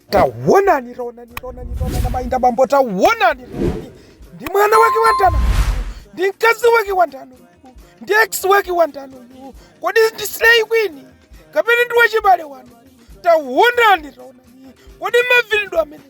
Tawonani, tawonani, tawonani, tawonani, amayi ndi abambo, tawonani, tawonani. Ndi mwana wake wandaniyu, ndi mkazi wake wandani, ndi ex wake wandani, kodi ndi slay queen kapena ndi wachibale wanu? Tawonani, tawonani, kodi mavinidwe amenewa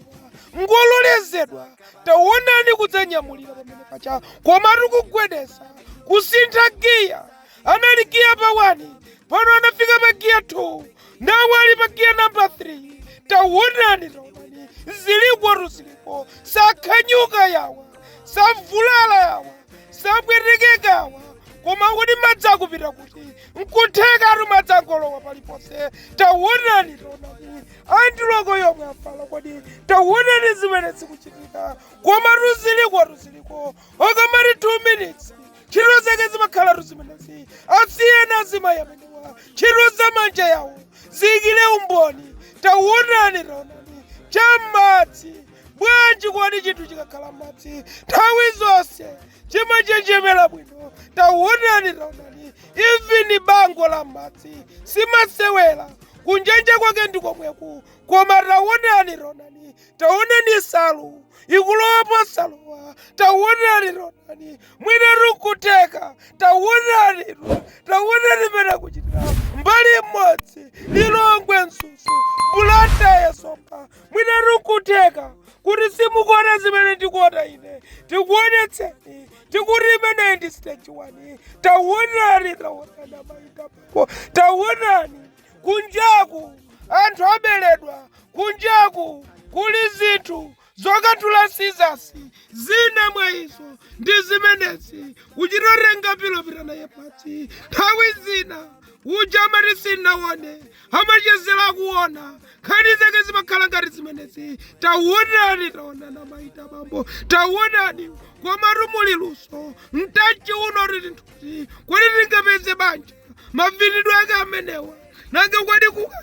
ngololezedwa tawonani kudzanyamulira pamene pacha komatu kugwedeza kusintha giya Anali giya pa 1 pano anafika pa giya 2 now ali pa giya namba 3 tawonani tawonani zilikotu ziliko sakhanyuka yawa savulala yawa sapwetekeka yawa koma kodi madzi akupita kuti nkuthekatu madzi angolowa paliponse tawonani tawonani andiloko yomwe afala kodi tawonani zimene zikuchitika koma tu zilikotu ziliko okamati 2 minutes ntchito zake zimakhalatu zimenezi asiyeni azimayi amenewa ntchito za manja awo ziikire umboni tawonani taonani cha m'madzi bwanji kodi chinthu chikakhala m'madzi nthawi zonse chimanjenjemera bwino tawonani taonani even bango la m'madzi simasewera kunjanja kwake ndi komweku koma tawonani taonani taonani nsalu ikulowa posalowa taonani taonani mwinatu kutheka taonani taonani pena kuchitira mbali imodzi lilongwe nsusu bulanda yesoka mwinatu kutheka kuti simukuona zimene ndikuona ine tikuonetseni tikuti imeneyi ndi stage one taonani taonani amayi ndi abambo taonani Kunjaku anthu aberedwa, kunjaku kuli zinthu zokatula sizasi zina mwa izo ndi zimenezi kuchitotenga pilo kupita naye pansi nthawi zina muja amati sinawone amachezera kuona nkhani zake zimakhala ngati zimenezi taonani taonani amayi ndi abambo taonani komatu muli luso mtchaitchi uno tili nthu kodi tingapeze banja mavinidwe ake amenewa nanga kodi kuka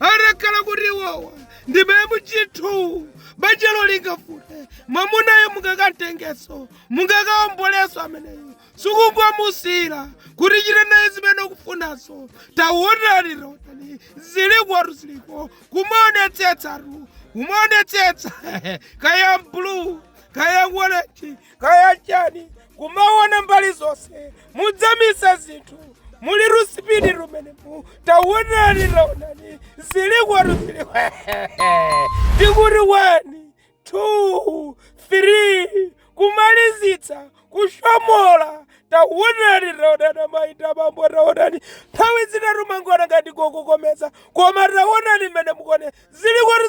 atakhala kuti iwowa ndi memu chinthu banjalo lingafute mwamunayo mungakamtengenso mungakaombolenso ameneyo sikungomusiyira kuti chita naye zimene ukufunazo tawonani tawonani zilikotu ziliko kumaonetsetsatu kumaonetsetsa kaya blue kaya waleti kaya chani kumaona mbali zonse mudzamisa zinthu muli sipidi tu m'menemu taonani taonani zilikotu ziliko tikuti one two three kumalizitsa kushomola taonani taonani amayi ndi abambo taonani nthawi zina tu timangoona ngati ndikukokomeza koma taonani mmene muone zilikotu